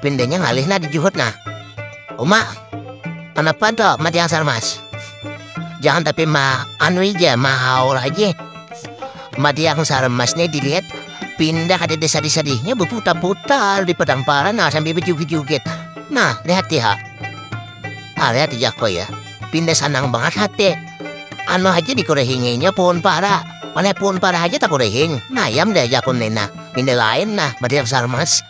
Pindanya ngalih nah di juhut nah. Uma, kenapa tuh mat yang sarmas? Jangan tapi ma anu aja, ma haul aja. Mat yang sarmas nih dilihat pindah ada desa desa dihnya berputar-putar di padang paran nah, sambil berjoget-joget. Nah, lihat ya. Ah, lihat ya kok ya. Pindah sanang banget hati. Anu aja dikorehinginya pohon para. Mana pohon para aja tak korehing. Nah, yam deh jakun nena. Pindah lain nah, mat yang sarmas.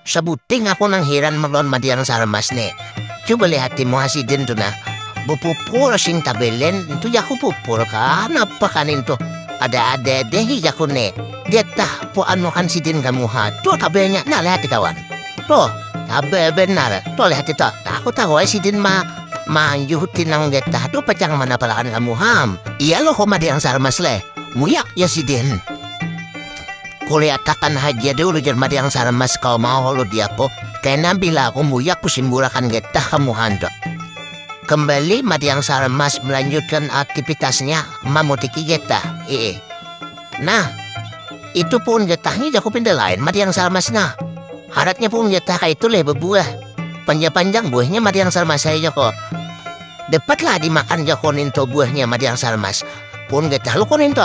Sabuting aku nang hiran melawan madiang sarmas ne Coba lihat timo hasidin tu nah Bupupur sing tabelen Itu jaku pupur kan apa kan itu Ada ada dehi jaku ne Dia tah po anu kan sidin kamu ha Tuh tabelnya nah lihat di kawan Tuh tabel benar Tuh lihat itu Tahu tahu ay sidin ma Manjuh tinang dia tah Tuh pacang mana palakan kamu ham Iya loh madiang sarmas leh Muyak ya sidin Kuliatakan haja dulu jar Mariang Salamas kawa maholo di ako, kena bila aku muyak kusimbulakan getah kamu handak. Kembali Mariang Salamas melanjutkan aktivitasnya mamutiki getah. Ee. Nah, itu pun getahnya jaku pindah lain Mariang Salamas nah. Haratnya pun getah kaya itu leh berbuah. Panjang-panjang buahnya Mariang Salamas saya jako. Dapatlah dimakan jako ninto buahnya Mariang Salamas. Pun getah lu ko ninto.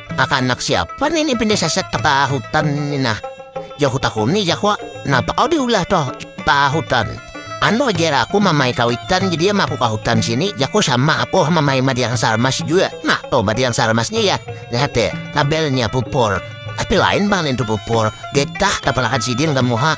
Kakanak siapa nih ini pindah sasak ke tengah hutan ini nah. Jahu tahu nih jahu, kenapa kau diulah toh tengah hutan? Anu ajar aku mamai kawitan jadi sama aku ke hutan sini jaku sama aku mamai madiang sarmas juga nah tuh madiang sarmasnya ya lihat deh tabelnya pupur tapi lain bang itu pupur getah tapalakan sidin kamu ha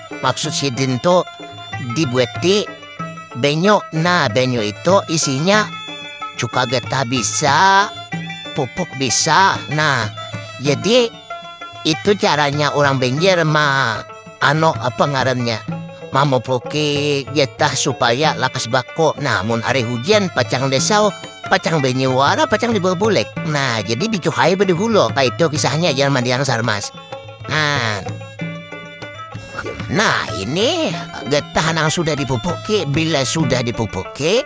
maksud sidin tuh dibuati benyo nah benyo itu isinya cuka getah bisa pupuk bisa nah jadi itu caranya orang benjer mah ano apa ngarannya mamupuki getah supaya lakas bako nah mun hari hujan pacang desau pacang benyo wara pacang dibawa bulek nah jadi dicuhai bade hulo kaitu kisahnya jangan mandiang sarmas nah. nah ini getah nang sudah dipupuki bila sudah dipupuki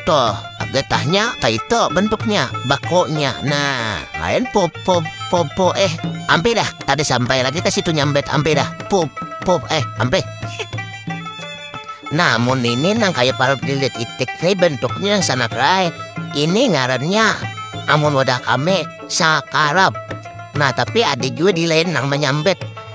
toh getahnya kaito bentuknya bakonya nah lain pop pop pop pop eh ampe dah tadi sampai lagi ke situ nyambet ampe dah pop pop eh ampe namun ini nang kayak parup lilit itik ini bentuknya yang sangat rai ini ngarannya amun wadah kami sakarap nah tapi ada juga di lain nang menyambet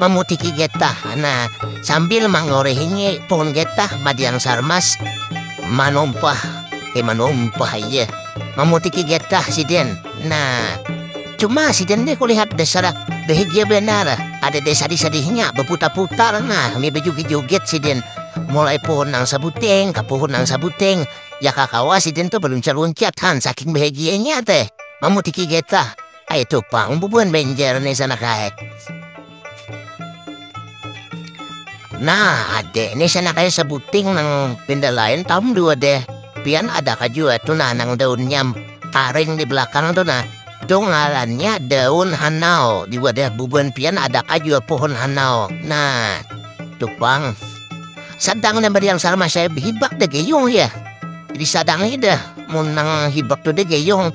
mamutiki getah nah sambil mangorehingi pohon getah madiang sarmas manumpah eh manumpah iya mamutiki getah sidin nah cuma sidin nih kulihat dasar bahagia banar ada deh sadih-sadihnya baputar-putar nah sambil bajoget-joget sidin mulai pohon nang sabuting ka pohon nang sabuting ya kakawa sidin tuh baluncat-luncat han saking bahagianya teh mamutiki getah. Itu pang bubuhan benjer nih sana kaya. Nah, adek nih sana kaya sebuting nang pindah lain tahun dua deh. Pian ada kajua tuh nah nang daunnya karing di belakang tuh nah. Itu ngarannya daun hanau. Di wadah bubuhan pian ada kajua pohon hanau. Nah, tuh pang. Sadang nang yang sama saya hibak deh geyong ya. Jadi sadang dah. Mun nang hibak tuh deh geyong.